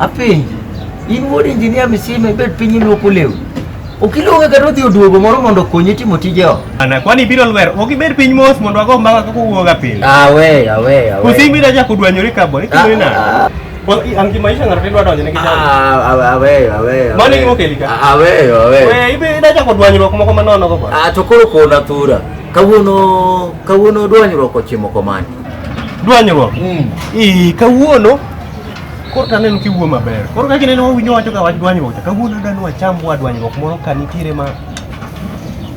Apenji, in wuod injinia misime bed piny iluoko lewni. Ok iluonge kata odhi oduogo moro mondo okonyi timo tije ot. Ana kwani biro lwer, ok ibed piny mos mondo ago mbaka kaka uwuoga pile. Awe, awe, awe. Usi biro chako dwanyore ka boy, ikore na. Ah, Bo- i- An gi maisha ng'ato idwa donjo ne ah, kijana. ah, awe, awe, awe. Mano e gima okeli ka? Awe, awe. We ibe idwa chako dwanyruok moko ma nono go boy. Ah, to koro kona thura. Kawuono, kawuono dwanyruok ochimo komani. Dwanyruok. Mm. Ii, kawuono Koro taneno kiwuo maber. Koro kaka ineno wawinjo wacho ka wach dwanyruok cha kawuono adwani wacham wa dwanyruok moro ka nitiere ma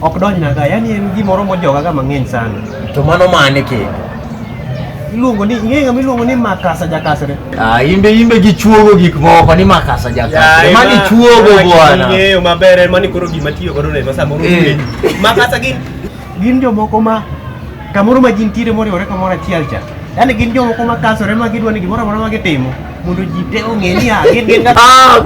ok donjna ga. Yaani en gimoro mojoga ga mang'eny sana. To mano mane kendo? Iluongo ni ing'eyo ng'ama iluongo ni Makasa Jakasre. Ah, imbe imbe gichuogo gik moko ni makasa jakasre. Mani chuogo bwana. Ing'eyo maber en mani koro gima tiyo godo ne ma samoro Eh. ng'eny. Makasa gin Gin jomoko ma kamoro ma jin tire moriwore kamoro achiel cha yaani gin jomoko ma kasore ma gidwa ni gimoro amora ma gitimo mondo ji te ong'e ni ah, gin gin ah,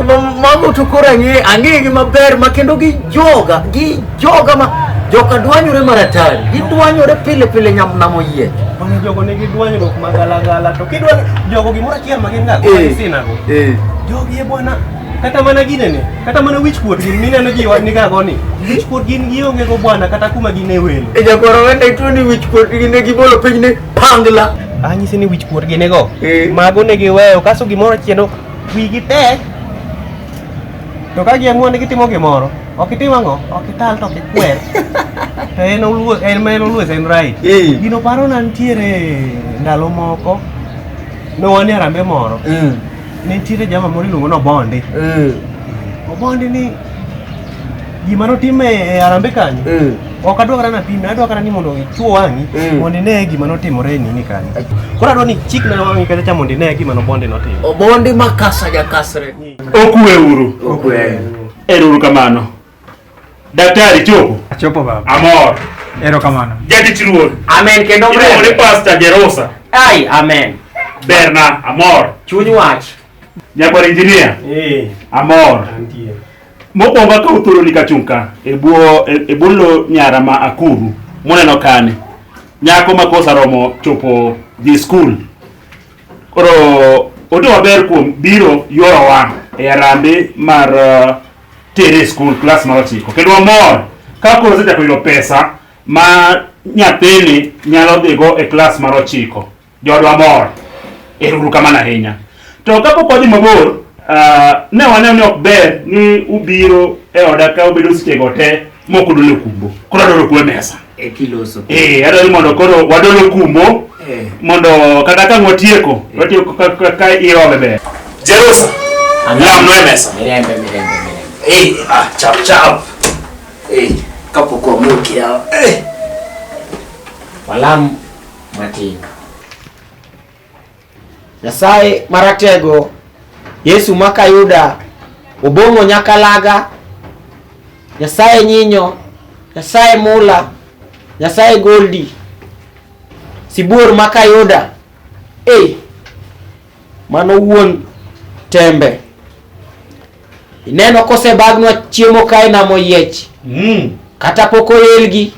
mago to koro ang'e ang'egi maber ma kendo gijoga gijoga ma joka dwanyore maratari gidwanyore pile pile nyamnamo yie mana jogo nigi dwanyruok magalagala to kidwa jogo gimoro achiel ma gin ga eh, sinago eh. jogi e bwana Kata mana ginene, kata mana wich kuot gin mineno ji wan niga goni. Wich kuot gin gionge go bwana kata kuma gine welo. E jakoro wenda ituo ni wich kuot gine gibolo piny ni pangla. Anyisi ni wich kuot gine go. Eh. Mago ne giweyo kaso gimoro chieno wigi tek. To ka giamua ni gitimo gimoro, ok itim ang'o? Ok ital to ok ikwer. To en oluo en ma en oluo en right. Eh. Gino paro na nitiere ndalo moko. Ne wan e arambe moro. Mm. ne nitiere jama moro iluongo ni Obondi. Eh. Obondi ni gima notime e Harambee kanyo. Eh. Ok adwa kata napime, adwa kata ni mondo ichwo wang'i eh. mondo ine gima notimore e nini kanyo. Koro adwa ni chik na wang'i kata cha mondo ine gima Obondi notimo. Obondi makasa jakasre. Okwe uru. Okwe. Ero uru kamano. Daktari chopo. Achopo baba. Amor. Ero kamano. Jadi chiruon. Amen kendo mre. Iluongo ni Pastor Jerosa. Ai, amen. Berna, amor. Chuny wach. Nyakwar engineer. Eh. Amor. Antie. Mokwongo akawo thuoloni kachung' ka e bwo e, e bwo lo nyara ma akuru muneno kani. Nyako ma kosa romo chopo dhi skul. Koro ote maber kuom biro yorowa e arambe mar uh, tere e skul klas mar ochiko kendo wamor ka koro osechako yudo pesa ma nyathini nyalo dhigo e klas mar ochiko joodwa mor eruru kamano ahinya to kapok wadhi mabor ah, ne waneno ni ok ber ni ubiro e oda ka ubedo sechego te moko dolo kumbo koro adolo kuwe mesa e kiloso eh adolo ni mondo koro wadolo kumbo eh mondo kata ka watieko watieko ka- ka- ka iwa bebe Jerusa lam no e mesa mirembe mirembe mirembe eh ah chap chap eh kapok wamuki yawa eh walam matin Nyasaye maratego Yesu makayuda obong'o nyaka laga Nyasaye nyinyo Nyasaye mula Nyasaye goldi sibuor makayuda e mano wuon tembe Ineno kosebagnwa chiemo kae nam oyiech Mm. kata pok oelgi.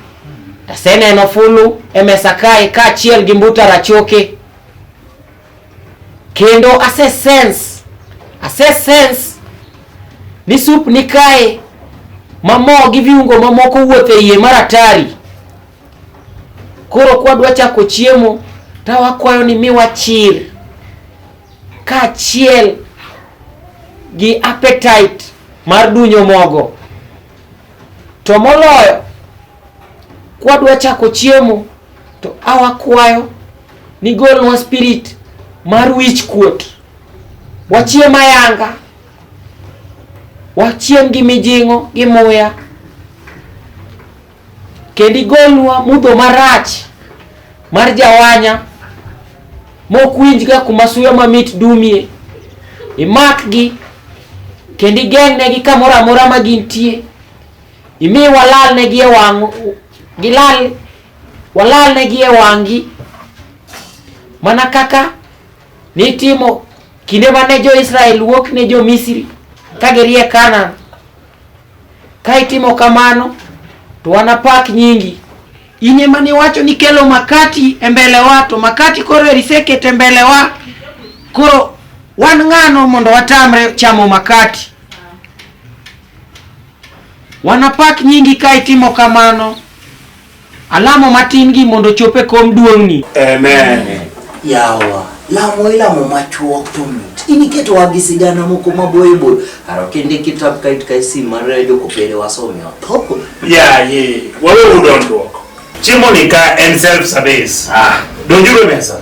Aseneno fulu e mesa kae kaachiel gi mbuta rachoke. Kendo ase sense, ase sense ni sup ni kae ma mo gi viungo mamoko wuotho e iye maratari. Koro kwadwa chako chiemo to wakwayo ni miwa chir. kaachiel gi appetite mar dunyo mogo. To moloyo kwadwa chako chiemo to awakwayo ni golnwa spirit mar wich kuot. Wachiem ayanga, wachiem gi mijing'o gi muya. Kendo igolnwa mudho marach mar jawanya mokwinjga kuma suya mamit dumie. Imakgi kendo igeng'negi kamoro amora ma gintie. Imi walalnegi e wang' gilal walalnegi e wang'gi mana kaka nitimo kinde mane jo-Israel wuok ne jo-Misri ka girie Kanaan. Ka itimo kamano, to wanapak nyingi. In ema niwacho ni kelo makati e mbelewa, to makati koro eri seket e mbelewa. Koro wan ng'ano mondo watamre chamo makati? Wanapak nyingi ka itimo kamano. Alamo matin gi mondo chop e kom duong'ni. Amen. Yawa, lamo ilamo machuok to mit. In iketowa gi sigana moko maboyo boyo. Aro kende kitap kait kai sim mar joko pere wasome otho. Ya ye, wawe udondruok. Chiemo ni ka en self service. Ah. Donjuru e mesa.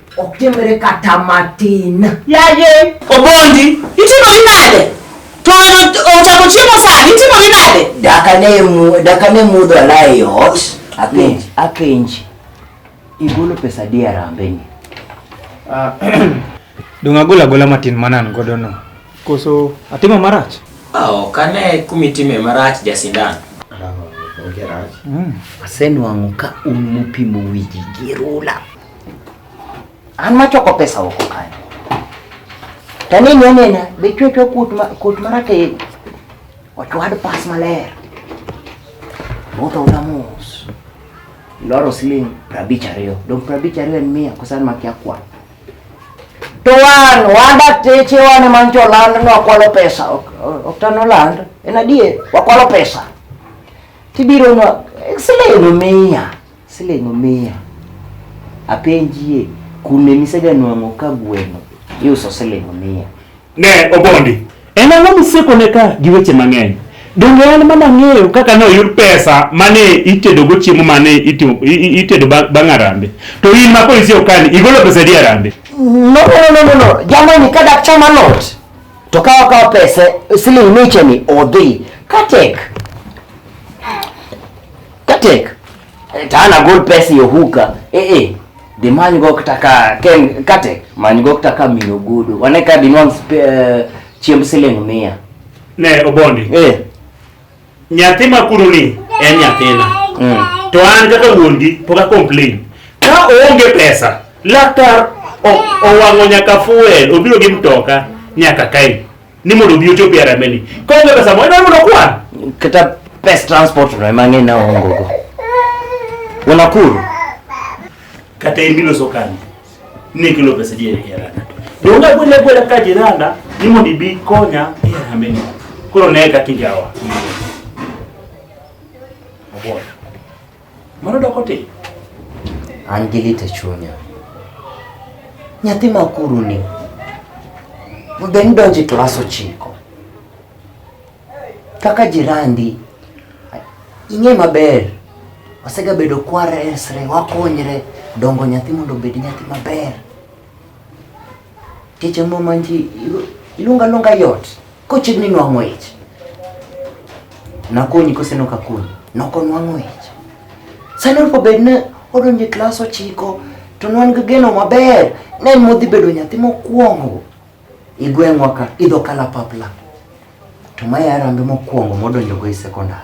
Ok timre kata matin. Yaye. Obondi, itimori nade? To ochako chiemo sani, itimori nade? Daka ne mu, daka ne mudho ala e ot. Akenji, akenji. Igolo pesa di arambe ni. Ah, Dong agola gola matin manan godo no. Koso atimo marach? Ah, ok ane kumitime marach jasindan. Onge rach. Mm. Asenwang'o ka un mupimo wiji gi rula. An machoko pesa oko kanyo. Taneni anena, be chwe chwe kut ma kut maratego. Ochwad pas maler. Ruto utamus. Loro siling prabich ariyo. Dong prabich ariyo en mia kusan makia kwa. To wan, wanda teche wan ema ncho land no wakwalo pesa. Ok, ok tano land. En adier, wakwalo pesa. Tibiro nwa, siling mia. Siling mia. Apenjie, kune miseganwang'o ka gweno iuso siling mia? Ne Obondi, en ang'o misekone ka gi weche mang'eny? Donge en mana ng'eyo kaka ne oyud pesa mane itedogo chiemo mane itedo bang' arambe? To in ma polisi okani, igolo pesa di arambe? No, no, no, no, no. Jamani, ka dak chama lot, to ka okawo pesa siling micheni odhi. Katek. Katek. Eh, Tana gold pesa yo huka. Eh eh. De manyo go kutaka ken katek. Manyo go kutaka mino gudu. Wane ka dinwang eh, chiemb siling mia. Ne obondi. Eh. Nyathi makuru ni en nyathina. Mm. To an kaka wuongi poka complain. Ka oonge pesa, laktar owang'o nyaka fuel, obiro gi mtoka nyaka kae. ni mondo obi ochopi e remeni. Kaonge pesa moro ineno mondo kwan. Kata pes transport no ema ng'e na ongo go. Unakuru. Kata imilo sokani. Ni kilo pesa je e rana. Donga bwele bwele ka jiranda ni mondo ibi konya e remeni. Koro ne ka kinjawa. Abona. Mano doko ti. An gi lit e chunya. Nyathi ma kuru ni. Mbe ni donji klas ochiko. Kaka jirandi. Ing'e maber. Osega bedo kwar esre, wakonyre. Dongo nyathi mondo obed nyathi maber. Keche mo manji, ilunga lunga yot. Kochid ni nwang'o ich. Nakonyi kose nok akonyi. Nok onwang'o ich. Sani opo bed ni odonjo e klas ochiko to ne wan gi geno maber ne en modhi bedo nyathi mokwongo e gweng'wa ka idho kalapapla to ma yarambe mokwongo modonjogo e sekondar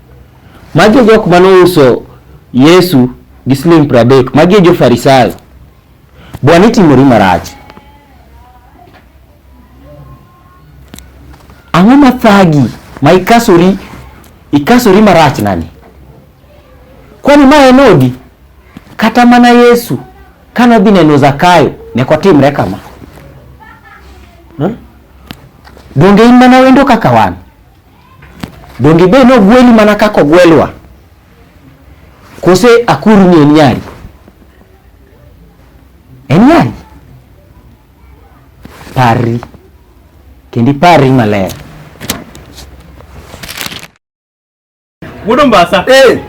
Magi e jok mane ouso Yesu gi siling' pradek. Magi e jo-Farisayo. Bwana itimori marach. Ang'o ma thagi ma ikasori ikasori marach nani? Kwani ma en odi? Kata mana Yesu kane odhi neno Zakayo ne ok otimre kama. Donge in mana wendo kaka wan? Donge be nogweli mana kaka ogwelwa? Kose akuru ni en nyari? En nyari. Parri. Kendi parri maler. Wuod Ombasa. Eh.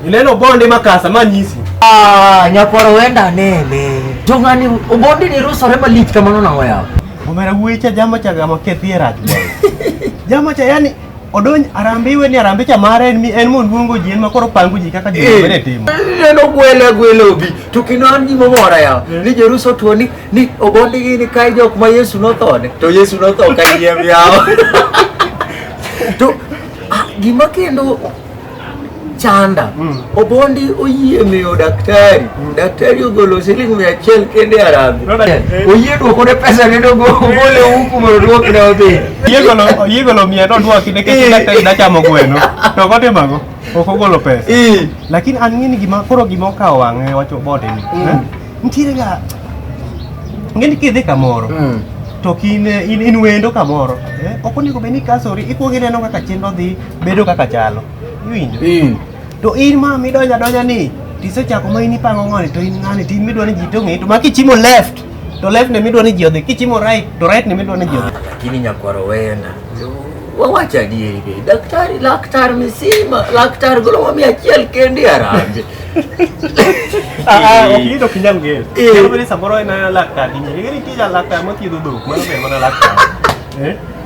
Ineno bonde makasa manyisi. Ah, nyakwaro wenda nene. Jong'ani obondi ni rusore malich kamano nang'o yawa. Omera wuecha jama cha gama kethie rach. Jama cha yani odonj arambe iwe ni arambe cha mare en mi en mon luongo ji en ma koro pango ji kaka ji Eh. mene timo. Neno gwele gwele obi. To kino an gima mora yawa. Ni Jeruso tuo ni ni obondi gi ni kai jok ma Yesu nothone. To Yesu notho kai yiem yawa. To ah, gima kendo chanda mm. Obondi oyie miyo daktari mm. Daktari ogolo siling mia achiel kende arabu oyie duoko ne pesa ne dogo ogole huku mondo duok ne odhi oyie golo mia no duoki ne kech daktari nachamo gweno to kotimago ok ogolo pesa lakini an ng'eni gima koro gima okawo wang'e wacho bote ni mm. eh? nitiere ga ng'eni kidhi kamoro mm to in, in, in wendo kamoro eh? ok onego bed ni ikasori ikuongo ineno kaka chenro dhi bedo kaka chalo iwinjo mm. to in ma midonja donja ni tisechako ma in ipango ng'ani to in ng'ani to in midwa ni ji to ng'eyi to ma kichimo left to left ne midwa ni ji odhi kichimo right to right ne midwa ni ji odhi lakini nyakwaro weyona wawacho adieri be daktari laktar misima laktar golo wami achiel kendi arambe okido kinyal ng'eyo samoro en laktar ing'eyo ing'eni tija laktar mathiedho dhok mano ber mana laktar eh?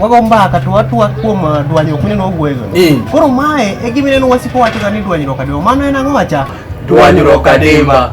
wago mbaka to watwa kuom uh, dwanyruok mineno wawuoyogo. Eh. Koro mae e gima ineno wasiko wachoga ni dwanyruok adimba. Mano en ang'o wacha? Dwanyruok adimba.